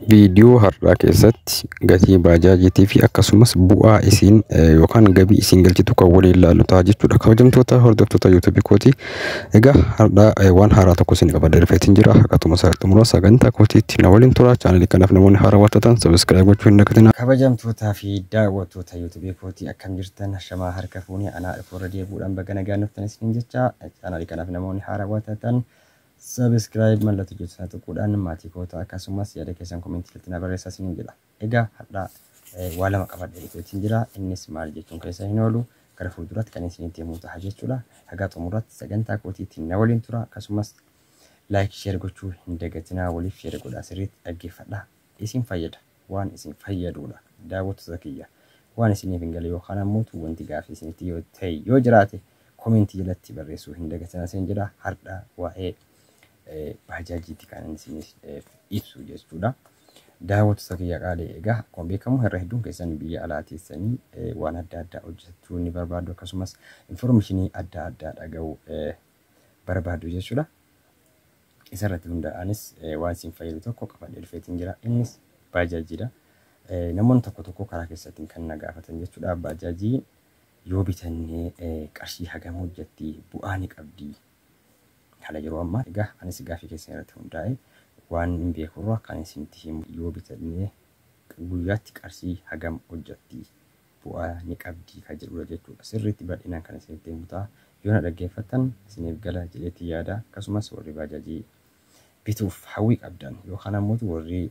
Viidiyoo har'aa keessatti gatii baajaajiitii fi akkasumas bu'aa isiin yookaan gabii isiin galchitu kan waliin ilaallu ta'a jechuudha. Kabajamtoota hordoftoota yuutuubii kooti. Egaa har'aa waan haaraa tokko isin qabadee dhufeetiin jira. Akkatuma isaa xumura sagantaa kootiitti na waliin tura. Chaanalii kanaaf namoonni haaraa waan taatan sabiskiraayib gochuu hin dagatinaa. Kabajamtootaa fi daawwattoota yuutuubii kooti akkam jirtan shamaa harka fuunee anaa dhufuu irra deebi'uudhaan baga nagaan dhuftan isiniin jecha chaanalii kanaaf namoonni haaraa waan taatan Subscribe mallattoo jettu sana tuquudhaan maatii koo ta'a akkasumas yaada keessan komentii irratti na barreessaa isiniin jedha. Egaa har'a waa lama qabadhee dhufeetiin jira innis maal jechuun keessa hin oolu gara fuulduraatti kan isinitti himuu ta'a jechuudha. Hagaa xumuraatti sagantaa kootiitiin na waliin tura akkasumas like share gochuu hin dagatinaa waliif share godhaa sirriitti dhaggeeffadhaa isin fayyada. waan isin fayyaduudha daawwattoota kiyya waan isiniif hin gale yookaan ammoo wanti gaaffii isinitti yoo ta'e yoo jiraate komentii jalatti barreessuu hin dagatinaa isin jedha hardha waa'ee baajaajiitti kan inni isiniif ibsu jechuudha. Daawwattoota kiyya qaalee egaa akkuma beekamu irra hedduun keessan biyya alaa teessanii waan adda addaa hojjechuu ni barbaadu akkasumas informeeshinii adda addaa dhaga'uu barbaaddu jechuudha. Isarratti hundaa'aanis waan siin fayyadu tokko qabadhee dhufeetiin jira. Innis baajaajiidha. Namoonni tokko tokko karaa keessaatiin kan na gaafatan jechuudha. Baajaajii yoo bitannee qarshii hagam hojjetti bu'aa ni qabdi. Haala yeroo ammaa egaa anis gaaffii keessan irratti hundaa'e waan hin beekurra kan isinitti himu yoo bitannee guyyaatti qarshii hagam hojjetti bu'aa ni qabdii ka jedhuudha jechuudha. Sirriitti bal'inaan kan isinitti himu ta'a. Yoo na dhaggeeffattan isiniif gala jedheetti yaada. Akkasumas warri baajaajii bituuf hawwii qabdan yookaan ammoo warri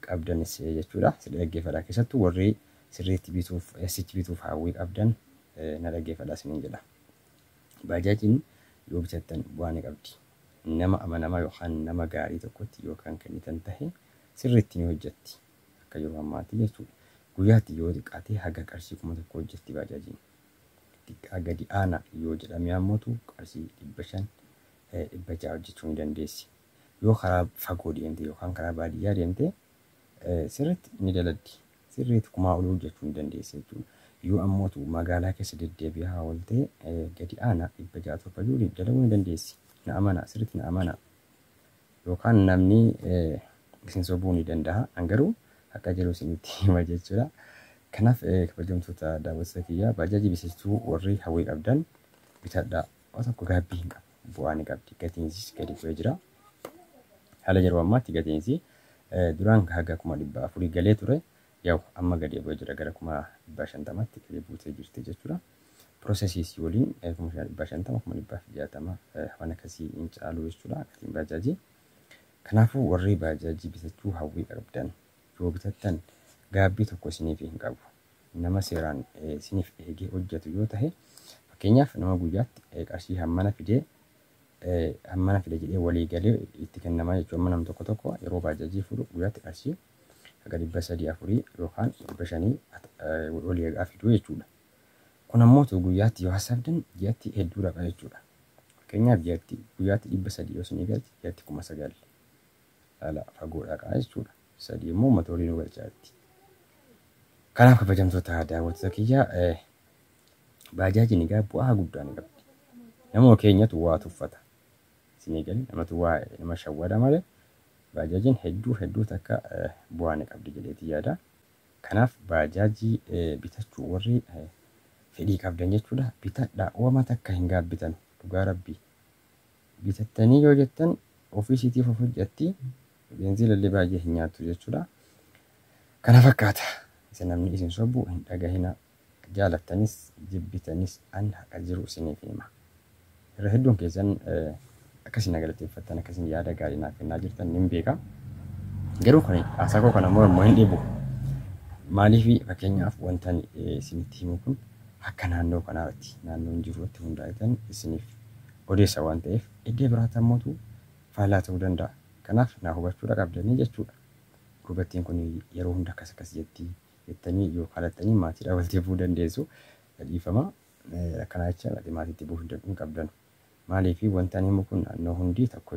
qabdanis jechuudha sirrii dhaggeeffadhaa. Keessattuu warri sirriitti bituuf SH bituuf hawwii qabdan na dhaggeeffadhaa isiniin jedha. Baajaajiin yoo bitattan bu'aa ni qabdi. Nama amanamaa yookaan nama gaarii tokkotti yoo kan kennitan tahe sirriitti ni hojjetti. Akka yeroo ammaatti jechuudha. Guyyaatti yoo xiqqaate haga qarshii 1000 hojjatti baajaajiin. Xiqqaa gadi aanaa yoo jedhamee ammotu qarshii 500, 600 hojjachuu ni dandeessi. Yoo karaa fagoo deemte yookaan karaa baadiyyaa deemte sirriitti ni daladdi. Sirriitti kumaa olii hojjachuu ni dandeessa jechuudha. Yoo ammotu magaalaa keessa deddeebi'aa oolte gadi aanaa 600, 700 dalaguu ni dandeessi. Na amanaa, sirriitti na amanaa. Yookaan namni isin sobuu ni dandaha. An garuu haqa jiru isinitti hima jechuudha. Kanaaf kabajamtoota daawwattoota kiyyaa baajaajii bisistuu warri hawwii qabdan bitadhaa. Waa tokko gaabbii hin qabu. Bu'aa ni qabdi. Gatiinsis gadi bu'ee jira. Haala yeroo ammaatti gatiinsi duraan haga kuma dhibba afurii galee ture. Yaw amma gadi bu'ee jira gara kuma dhibba shantamatti gadi buutee jirti jechuudha. processes waliin 500000 500060 waan akkasii hin caalu jechuudha gatiin baajaajii. Kanaafuu warri baajaajii bitachuu hawwii qabdan yoo bitattan gaabbii tokko isiniif hin qabu. Nama seeraan isiniif eegee hojjetu yoo tahe fakkeenyaaf nama guyyaatti qarshii hammana fidee hammana fida jedhee walii galee itti kennama jechuudha. Amma nam tokko tokko yeroo baajaajii fuudhu guyyaatti qarshii haga dhibba sadii afurii yookaan dhibba shanii walii eegaa fiduu jechuudha. Kun ammoo utuu guyyaatti yoo hassaabdan ji'atti hedduu dhaqa jechuudha. Fakkeenyaaf ji'atti guyyaatti 300 yoo isinii galche ji'atti 9,000 laala fagoo dhaqa jechuudha. Sadii immoo uummata olii nu galchaatti. Kanaaf kabajamtoota daawwattoota kiyya baajaajiin egaa bu'aa guddaa ni qabdi. Nama keenyatu waa tuffata. Isinii galee namatu waa nama shawwada malee baajaajiin hedduu hedduu takka bu'aa ni qabdi jedheeti yaada. Kanaaf baajaajii bitachuu warri fedhii qabdan jechuudha bitadha wama takka hin gaabbitan dhugaa rabbii bitattanii yoo jettan ofii isiitiif of hojjatti beenziilallee baay'ee hin nyaattu jechuudha kana fakkaata isa namni isin sobu hin dhagahina Jaalattanis jibbitanis an haqa jiru isiniif hima. Irra hedduun keessan akkasiin na galateeffattan, akkasiin yaada gaarii naaf kennaa jirtan nin beeka. Garuu kuni haasaa koo kana mormu hin dhibu. Maaliif fakkeenyaaf wantan isinitti himu kun akka naannoo kanaarratti naannoon jiru irratti hundaa'eetan isiniif odeessa waan ta'eef iddoo biraatti ammootu faallaa ta'uu danda'a. Kanaaf na hubachuudha qabdanii jechuudha. Gurbattiin kun yeroo hunda akkas akkas jetti, jettanii yoo kadhattanii maatiidhaa walitti bu'uu dandeessu. Dhiifama akkanaa jecha maatiitti bu'uu hin qabdanu. Maaliif wanti ani himu kun naannoo hundi tokko